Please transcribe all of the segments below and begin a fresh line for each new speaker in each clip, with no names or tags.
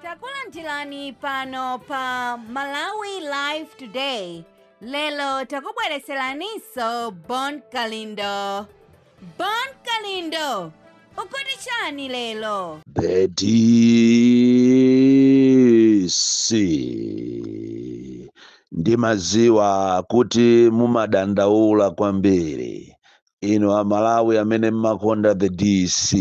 takulandirani pano pa malawi live today lelo takubwereseraninso bon kalindo bon kalindo ukuti chani
lelo the DC, ndimaziwa kuti mumadandaula kwambiri inu amalawi amene mmakonda the dc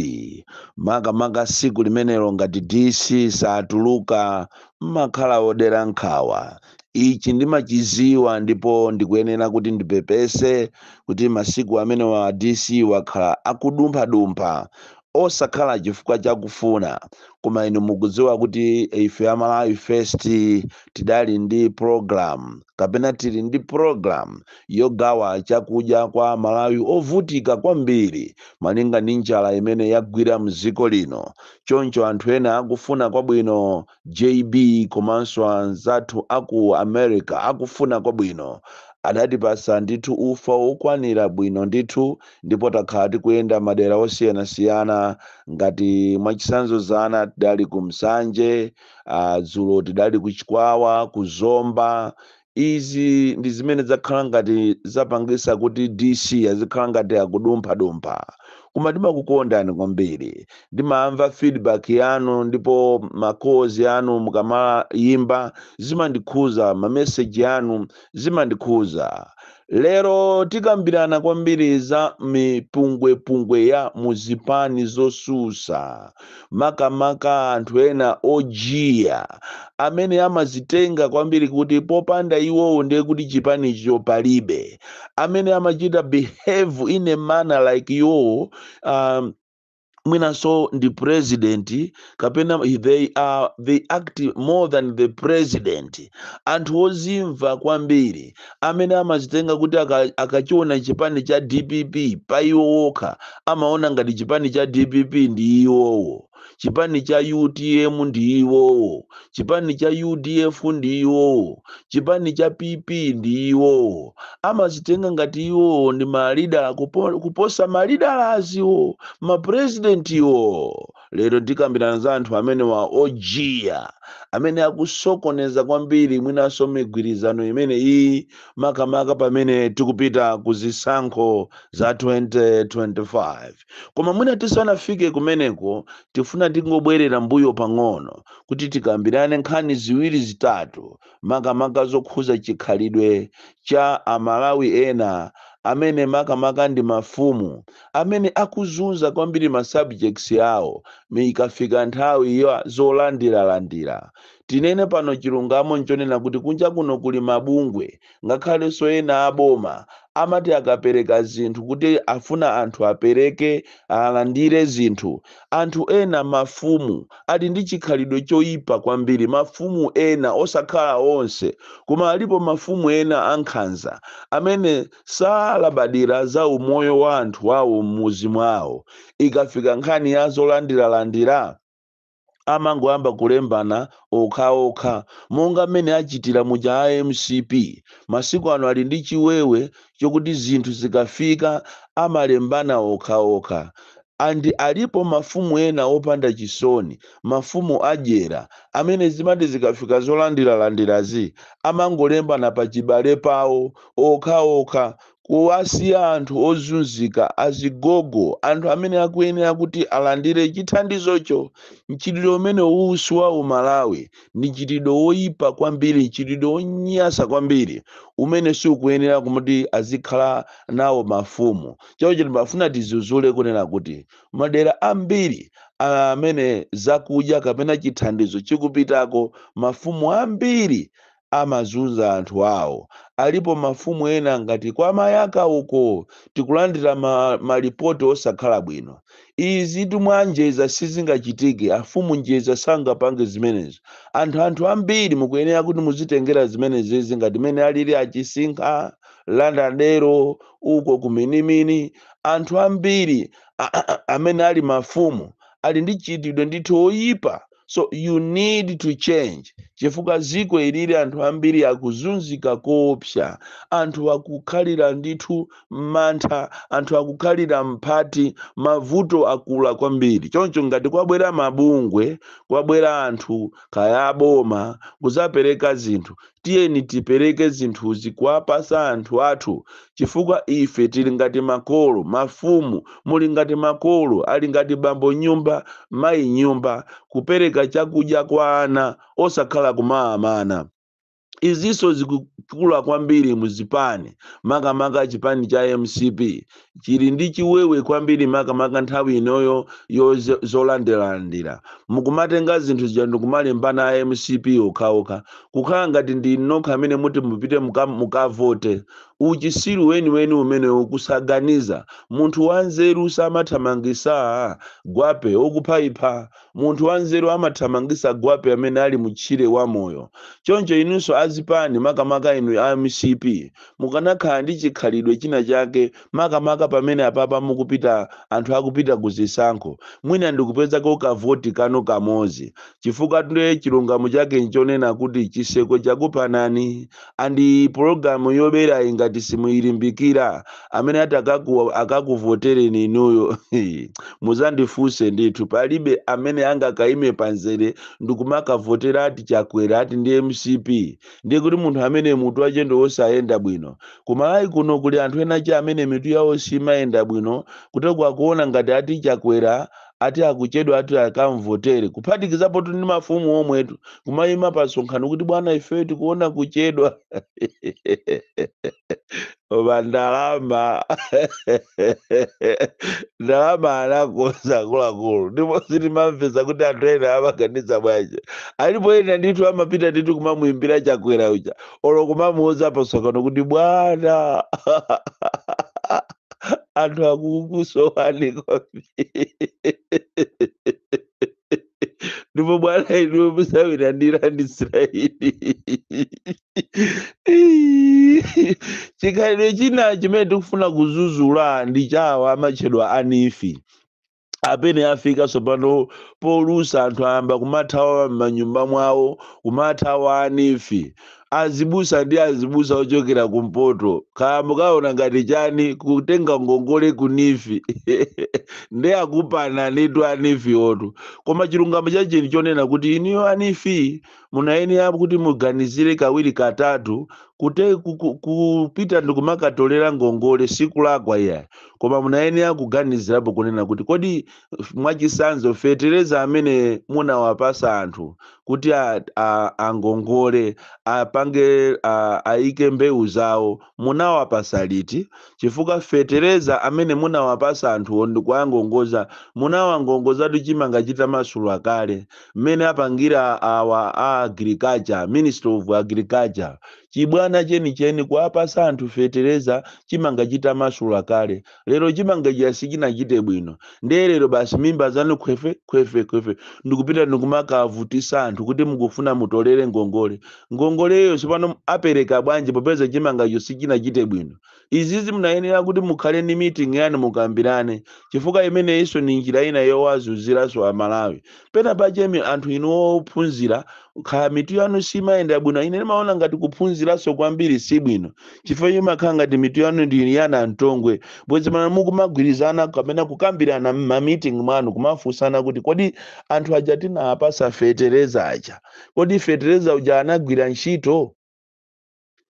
makamaka siku limenelo ngati dc satuluka mmakhala odera nkhawa ichi ndimachiziwa ndipo ndikuyenera kuti ndipepese kuti masiku amenewa dc wakhala akudumphadumpha osakhala chifukwa chakufuna koma inu mukudziwa kuti ife a Malawi First tidali ndi program kapena tili ndi program yogawa chakudya kwa Amalawi ovutika kwambiri malinga ndi njala imene yagwira mdziko lino choncho anthu ena akufuna kwabwino JB komanso anzathu a ku America akufuna kwabwino, adatipatsa ndithu ufa wokwanira bwino ndithu ndipo takhala tikuyenda madera osiyanasiyana ngati mwachitsanzo dzana tidali ku Nsanje, uh, dzulo tidali ku Chikwawa, ku Zomba, Izi ndi zimene zakhala ngati zapangisa kuti DC azikhala ngati akudumpha dumpha. Koma ndimakukondani kwambiri. Ndimamva feedback yanu ndipo ma calls anu mukamayimba zimandikhuza ma message anu zimandikhuza. Lero tikambirana kwambiri za mipungwepungwe ya mu zipani zosusa makamaka anthu ena ojiya amene amazitenga kwambiri kuti popanda iwowo ndiye kuti chipanicho palibe amene amachita behave in a manner like iwowo um, mwinanso ndi president kapena they are they act more than the president anthu ozimva kwambiri amene amazitenga kuti aka- akachiona chipani cha dpp pa iwo okha amaona ngati chipani cha dpp ndi iwowo chipani cha utm ndi iwowo chipani cha udf ndi iwowo chipani cha pp ndi iwowo amazitenga ngati iwowo ndi malida kupo- kuposa malida aziwo mapurezidentiwo lero ndikambirana za anthu amenewa ojiya amene akusokoneza kwambiri mwinanso migwirizano imene iyi makamaka pamene tikupita ku zisankho za 2025 Koma mwina tisanafike kumeneko, tifuna tingobwerere m'mbuyo pang'ono kuti tikambirane nkhani ziwiri zitatu, makamaka zokhuza chikhalidwe cha a Malawi ena amene makamaka ndi mafumu amene akuzunza kwambiri ma subjects awo ikafika nthawi ya zolandiralandira. Tinene pano chilungamo nchonena kuti kunja kuno kuli mabungwe ngakhalenso ena a boma amati akapereka zinthu kuti afuna anthu apereke alandire zinthu anthu ena mafumu ali ndi chikhalidwe choyipa kwambiri mafumu ena osakhala onse koma alipo mafumu ena ankhanza amene salabadira za umoyo wa anthu awo m'muzi mwawo ikafika nkhani ya zolandiralandira amangoyamba kulembana okhaokha monga mmene achitira muja a mcp masiku ano ali ndi chiwewe chokuti zinthu zikafika amalembana okhaokha and alipo mafumu ena opanda chisoni mafumu adyera amene zimati zikafika zolandiralandirazi amangolembana pachibale pawo okhaokha kuwasiya anthu ozunzika, azigogo, anthu amene akuyenera kuti alandire chithandizocho. Mchitidwe umene uwu si wa uMalawi. Ndi mchitidwe woipa kwambiri, mchitidwe wonyasa kwambiri umene sukuyenera kuti azikhala nawo mafumu. Choncho timafuna tizuzule kunena kuti madera ambiri amene zakudya kapena chithandizo chikupitako, mafumu ambiri amazunza anthu awo. Alipo mafumu ena ngati kwa Mayaka uko tikulandira malipoti osakhala bwino. Izitu mwa Njeza sizingachitike, afumu Njeza sangapange zimenezo. Anthu anthu ambiri mukuyenera kuti muzitengera zimenezizi ngati mene alili a Chisinkha, Landa Dero, uko ku Minimini. Anthu ambiri amene ali mafumu ali ndi mchitidwe ndithu oyipa. so you need to change chifukwa ziko ilili anthu ambiri akuzunzika koopsa anthu akukhalira ndithu m'mantha anthu akukhalira mphati mavuto akula kwambiri choncho ngati kwabwera mabungwe kwabwera anthu kaya aboma kuzapereka zinthu Tiyeni tipereke zinthuzi kuwapasa anthu athu chifukwa ife tili ngati makolo, mafumu, muli ngati makolo, ali ngati bambo m'nyumba, mayi m'nyumba, kupereka chakudya kwa ana osakhala kumawamana. Izinso zikukula kwambiri mu zipani, makamaka chipani cha mcp chili ndi chiwewe kwambiri makamaka nthawi inoyo yo zo- zolandilandira mukumatenga zinthu zija ndikumalembana a mcp okhaokha kukhala ngati ndi nokha amene muti mupite muka- mukavote uchisiru weniweni umenewu kusaganiza munthu wanzeru samathamangisa gwape okuphayipha Munthu wanzeru amathamangisa gwape amene ali mu tchire wa moyo. Choncho inunso a zipani makamaka inu a mcp mukanakhala ndi chikhalidwe china chake makamaka pamene apapa mukupita anthu akupita ku zisankho mwina ndikupezako ka voti kanu kamodzi chifukwatu nde chilungamo chake nchonena kuti chiseko chakupanani and program yoberayi ngati simuyilimbikira amene ati akakuvotereni inuyo muzandifunse ndithu palibe amene angakaime panzere ndikumakavotera ati chakwera ati ndi mcp ndiye kuti munthu amene mutu wache ndi wosayenda bwino ku malawi kuno kuli anthu enache amene mitu yawo simayenda bwino kuteko akuona ngati ati chakwera ati akuchedwa ati akamvotere kuphatikizapotu ndi mafumu omwetu kumayima pa msonkhano kuti bwana ife tikuona kuchedwa koma ndalama ndalama anakonza akuluakulu ndipo sitimamvesa kuti anthu ena amaganiza bwanji alipo ena ndithu amapita ndithu kumamuyimbira chakwera uja olo kumamuuza pa msonkhano kuti bwana anthu akukusowani kwambiri ndipo bwana inuwe musawiranira ndi israeli chikhalidwe china chimene tikufuna kuzuzula ndi chawa amatchedwa a neef amene afika tsopano polusa anthu ayamba kumathawa m'manyumba mwawo kumathawa a neef azibusa ndi azibusa ochokera kumpoto kaya mukaona ngati chani kutenga ngongole ku neef ndi akupananitu a neef wotu koma chilungamo chache nchonena kuti inuyo a neef munayenera kuti muganizire kawiri katatu kute ku- ku- kupita ndikumakatolera ngongole sikulakwa iyayi koma munayenera kuganizirapo kunena kuti kodi f- mwachisanzo fetereza amene munawapasa anthu kuti a- a- angongole apange a- aike mbewu zawo munawapasa liti chifukwa fetereza amene munawapasa anthuwo ndikuangongoza munawangongozatu chimanga chitamasula kale mmene apangira awa a agriculture ministry of agriculture chibwana chenicheni kuwapasa anthu fetereza chimanga chitamasula kale lero chimanga chija sichinachite bwino ndiye lero basi mimba zanu khwefe khwefe khwefe ndikupita ndikumakavutisa anthu kuti mukufuna mutolere ngongole ngongoleyo tsopano apereka bwanji popeza chimangacho sichinachite bwino izizi munayenera kuti mukhale ndi meeting yanu mukambirane chifukwa imeneyinso ni njira ina yowazunziranso amalawi pena pache mi- anthu inu ophunzira kaya mitu yanu simayenda bwino ine ndimaona ngati kuphunziranso kwambiri si bwino chifukwa imakhala ngati mitu yanu ndi yana mtongwe bwezi mana mukumagwirizana kapena kukambirana m'mamiting mwanu kumafunsana kuti kodi anthu aja tinawapasa fetereza aja kodi fetereza uja anagwira ntchito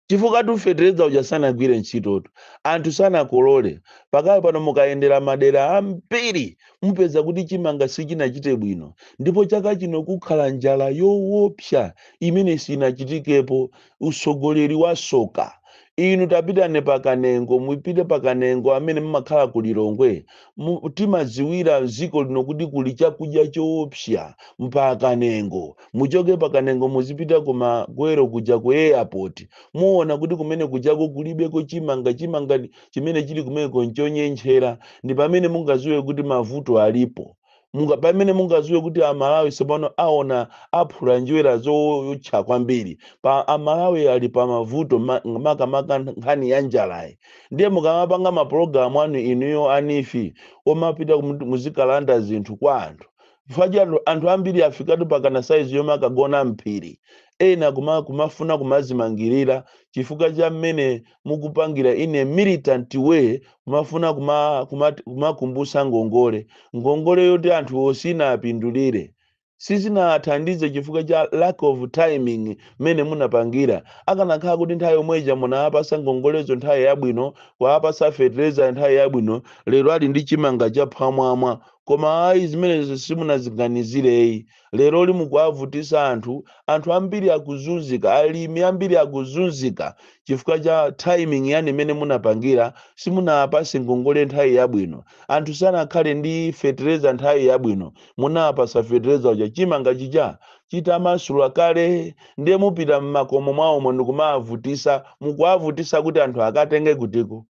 chifukwatu fetereza uja sanagwire ntchitotu anthu sanakolole pakali pano mukayendera madera ambiri mupeza kuti chimanga sichinachite bwino ndipo chaka chino kukhala njala yowopsa imene siinachitikepo utsogoleri wasoka inu tapitani pa Kanengo mupite pa Kanengo amene mumakhala ku lilongwe mu- timadziwira dziko lino kuti kuli chakudya choopsa mpa Kanengo muchoke pa Kanengo muzipita ku Magwero kuja ku airport muona kuti kumene kujako kulibeko chimanga chimanga ndi- chimene chili kumeneko nchonyentchera ndi pamene mungadziwe kuti mavuto alipo munga pamene mungaziwe kuti amalawi tsopano aona aphula njerwa zootcha kwambiri pa amalawi ali pa mavuto ma- makamaka nkhani ya njalayi ndiye mukamapanga mapulogalamu anu inuyo anifi omapita kumu- muzikalanda zinthu kwa anthu chifukwa cha anthu anthu ambiri afikatu pa kanasaizi yomwe akagona m'phiri ena kuma, kumafuna kumazimangirira chifukwa cha mmene mukupangira in a militant way kumafuna kuma- kuma- kumakumbutsa ngongole ngongole yoti anthuwo sinawapindulire sizinathandize chifukwa cha lack of timing mmene munapangira akanakhala kuti nthawi yomweja munawapasa ngongolezo nthawi yabwino kuwapasa fertilizer nthawi yabwino lero ali ndi chimanga chaphwamwamwa koma ayi zimenezo simunaziganizireyi Leroli mukuwavutisa anthu, anthu ambiri akuzunzika, alimi ambiri akuzunzika chifukwa cha timing yanu imene munapangira, simunawapase ngongole nthawi yabwino, anthu sanakhale ndi fetereza nthawi yabwino, munawapasa fetereza uja chimanga chija chitamasula kale ndiye mupita mmakomo mwawomo ndikumawavutisa, mukuwavutisa kuti anthu akatenge kutiko?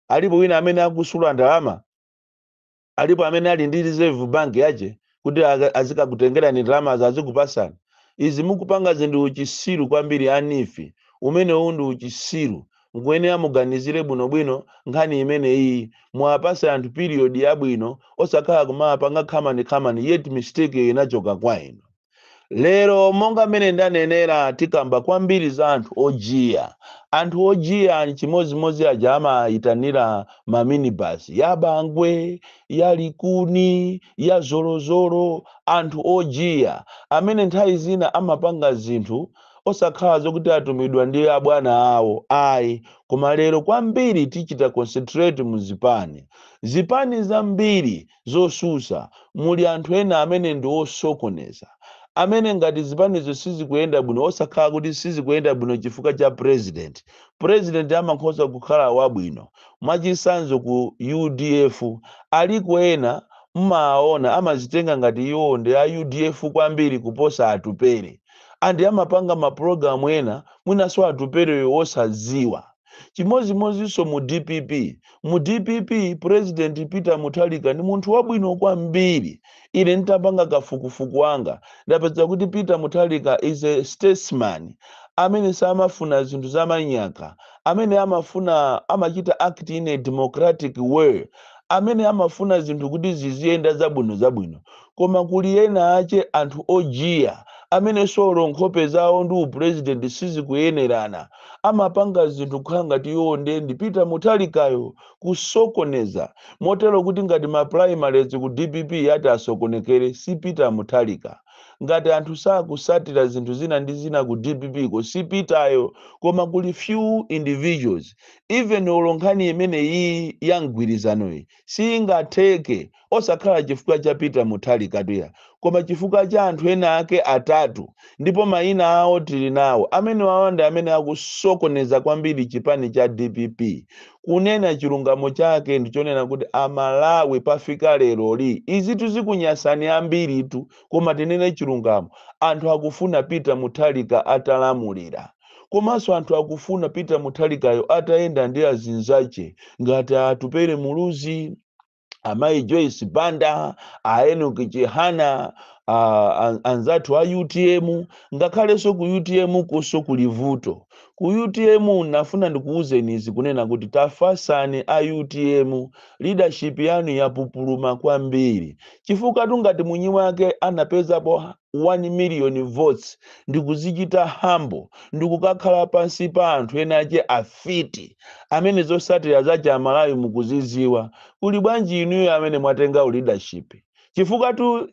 Alipo wina amene akusula ndalama? alipo amene ali ndi reserve bank yache kuti aka- azikakutengerani ndalamazo azikupasani izi mukupangazi ndi uchisiru kwambiri anifi umenewu ndi uchisiru mukuyenera muganizire bwinobwino nkhani imeneyi muwapase anthu period yabwino osakhala kumapanga khamani khamani yet mistake inachoka kwa inu lero monga mmene ndanenera tikamba kwambiri za anthu ojiya anthu ojiya nchimodzimodzi aja amayitanira maminibasi ya bangwe ya likuni ya zolozolo anthu ojiya amene nthawi zina amapanga zinthu osakhala zokuti atumidwa ndi abwana awo ayi koma lero kwambiri tichita concentrate mu zipani zipani zambiri zosusa, muli anthu ena amene ndi osokoneza, amene ngati zipanizo sizikuyenda bwino osakhala kuti sizikuyenda bwino chifukwa cha president, president amakhoza kukhala wabwino, mwachinsanzo ku udf aliko ena mmawaona amazitenga ngati iwo ndi a udf kwambiri kuposa Atupele and amapanga ma program ena mwinaso Atupeleyo osadziwa. chimodzimodzinso mu dpp mu dpp president peter mutharika ndi munthu wabwino kwambiri ine nditapanga kafukufuku wanga ndapeza kuti peter mutharika is a statesman amene samafuna zinthu zamanyaka amene amafuna amachita act in a democratic way amene amafuna zinthu kuti ziziyenda zabwino zabwino koma kuli ena ache anthu ojiya amenenso olo nkhope zawo ndi u president sizikuyenerana amapanga zinthu kukhala ngati iwo nde ndi Peter Mutharikayo kusokoneza motero kuti ngati ma primaries ku dpp ati asokonekere si Peter Mutharika ngati anthu sakusatira zinthu zina ndi zina ku dppko si Peteryo koma kuli few individuals even olo nkhani imeneyiyi ya mgwirizano iyi siingatheke osakhala chifukwa cha peter muthalikatu iyayi koma chifukwa cha anthu ena ake atatu ndipo mayina awo tili nawo amenewawa ndi amene akusokoneza kwambiri chipani cha dpp kunena chilungamo chake ndichonena kuti amalawi pafika leroli izitu zikunyasani ambiritu koma tinene chilungamo anthu akufuna peter muthalika atalamulira komanso anthu akufuna peter muthalikayo atayenda ndi azinzache ngati atupere muluzi amayi joyce banda a enoki chihana a- a- anzathu a utm ngakhalenso ku utm kunso kuli vuto ku utm nafuna ndikuwuzeni izi kunena kuti tafasani a utm leadership yanu yapupuluma kwambiri chifukwatu ngati mwinyi wake anapezapo 1 million votes ndikuzichita humble ndikukakhala pansi pa anthu ena ache afiti amene zosatira zache amalawi mukuziziwa kuli bwanji inuyo amene mwatenga leadership chifukwatu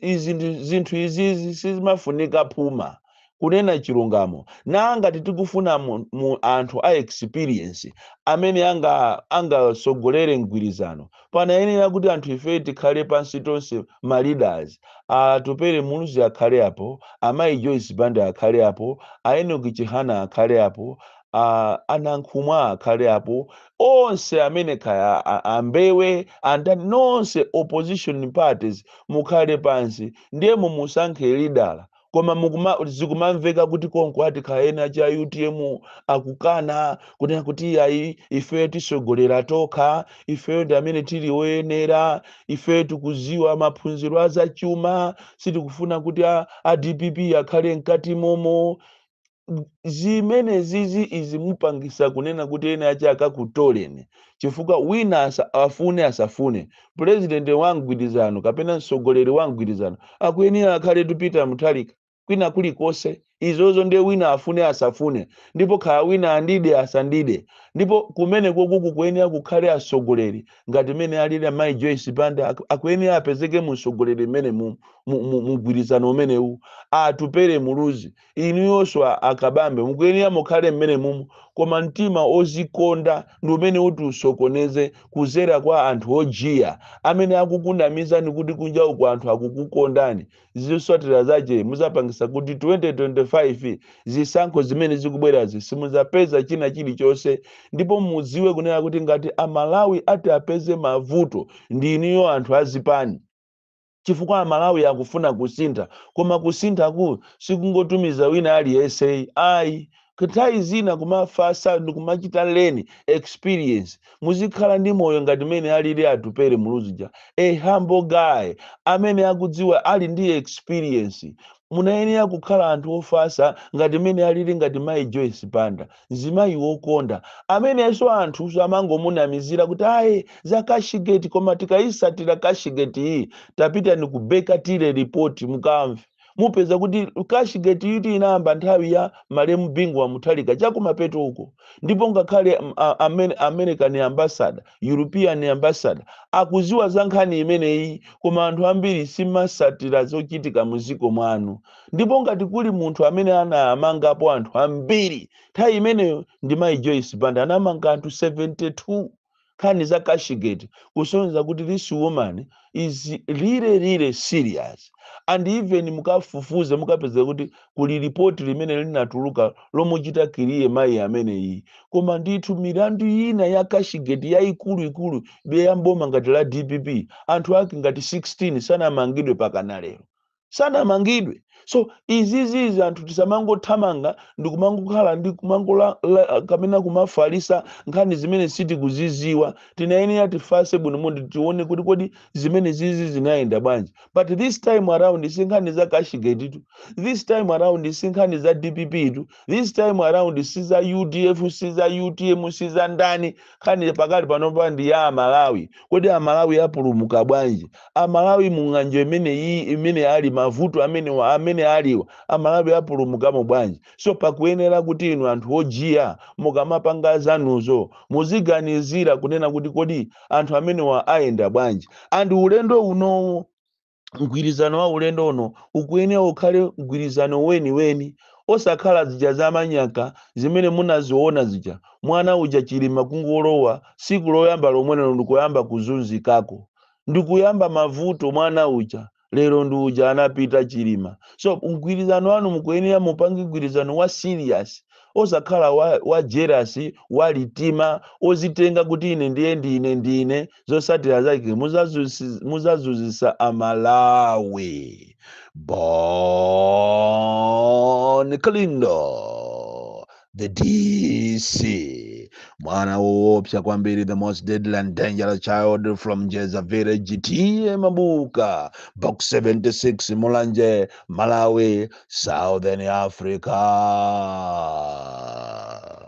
zinthu izizi sizimafunika phuma kunena chilungamo na ngati tikufuna mu, mu anthu a experience amene anga angasogolere mgwirizano panayenera kuti anthu ifeyi tikhale pansi tonse ma leaders Atupele Muluzi akhale apo amayi Joyce Banda akhale apo a Enoch Chihana akhale apo a Nankhumwa akhale apo onse amene kaya a- a- a Mbewe andani nonse opposition parties mukhale pansi ndiye mumusankhe lidala koma mukuma zikumamveka kuti konko ati khaya ena cha utm akukana kunena kuti iyayi ifeyo tisogolera tokha ifeyo ndi amene tili oyenera ifeyo tikuziwa maphunziro azachuma sitikufuna kuti a, a dpp akhale mkati momo zimene zizi izi mupangitsa kunena kuti ene ache akakutoleni chifukwa wina asa- afune asafune pulezidenti wa mgwirizano kapena mtsogoleri wa mgwirizano akuyenera akhale tu Peter Mutharika kwina kulikonse izozo ndiye wina afune asafune ndipo khaya wina andide asandide ndipo kumene kuku kukuyenera kukhale atsogoleri ngati mene alili mayi Joyce Banda aku- akuyenera apezeke mu mtsogoleri mmene mu mu- mu- mgwirizano umenewu Atupele Muluzi inuyonso a Kabambe mukuyenera mukhale mmene mumu koma mtima ozikonda ndi umene uti usokoneze kuzera kwa anthu odyera amene akukunamizani kuti kunja uko anthu akukukondani zotsatira zache muzapangisa kuti 2025 zisankho zimene zikubwerazi simuzapeza china chilichonse ndipo mudziwe kunena kuti ngati amalawi ati apeze mavuto ndi inuyo anthu azipani chifukwa amalawi akufuna kusintha koma kusinthaku sikungotumiza wina aliyense ayi nthawi zina kumafasa ndikumachita learn experience muzikhala ndi moyo ngati mene alili Atupele Muluzi ja a humble guy amene akudziwa ali ndi experience munayenera kukhala anthu ofasa ngati mene alili ngati mai joyce banda mzimayi wokonda amenenso anthu samangomunamizira kuti ayi za kashigeti koma tikayisatira kashigeti iyi tapitani ku Baker Tilly report mukamve mupeza kuti kashigeti iyi inayamba nthawi ya malemu bingu wa Mutharika chakumapeto uko ndipo ngakhale mm, a- amene american ambassador european ambassador akuziwa za nkhani imeneyi koma anthu ambiri simasatira zochitika muziko mwanu ndipo ngati kuli munthu amene anamangapo anthu ambiri nthawi imeneyo ndi mayi joyce banda anamanga anthu 72 nkhani za cashgate kusonyeza kuti this woman is really really serious and even mukafufuze mukapeza kuti kuli lipoti limene linatuluka lomuchita clear mayi ameneyi koma ndithu milandu ina ya cashgate yayikuluikulu be ya m'boma ngati la dpp anthu ake ngati 16 sanamangidwe pakana lero sanamangidwe so izizizi anthu tisamangothamanga ndikumangokhala ndi kumangola la- kapena kumafalisa nkhani zimene sitikuziziwa tinayenera tifase bwino mundi tione kuti kodi zimenezizi zinayenda bwanji but this time around si nkhani za cashgate tu this time around si nkhani za dpp tu this time around si za udf si za utm si za ndani nkhani pakali panopa ndi ya amalawi kodi amalawi apulumuka bwanji amalawi mung'anjo imene iyi imene ali mavuto amene amene alipowa amalawi apulumukamo bwanji so pakuyenera kuti inu anthu ojiya mukamapanga zanuzo muziganizira kunena kuti kodi anthu amenewa ayenda bwanji and ulendo unowu mgwirizano wa ulendo uno ukuyenera ukhale mgwirizano weniweni osakhala zija zamanyaka zimene munaziona zija mwana uja chilima kungolowa siku loyamba lomwelero ndikuyamba kuzunzikako ndikuyamba mavuto mwana uja lero ndi uja anapita chilima so mgwirizano wanu mukuyenera mupange mgwirizano wa serious osakhala wa, wa jealous wa litima ozitenga kuti ine ndiye ndine ndine zosatira zake muzazusi- muzazuzisa amalawi bon kalindo the dc mwana woopsa kwambiri the most deadly and dangerous child from njeza village t/a mabuka box 76 mulanje malawi southern africa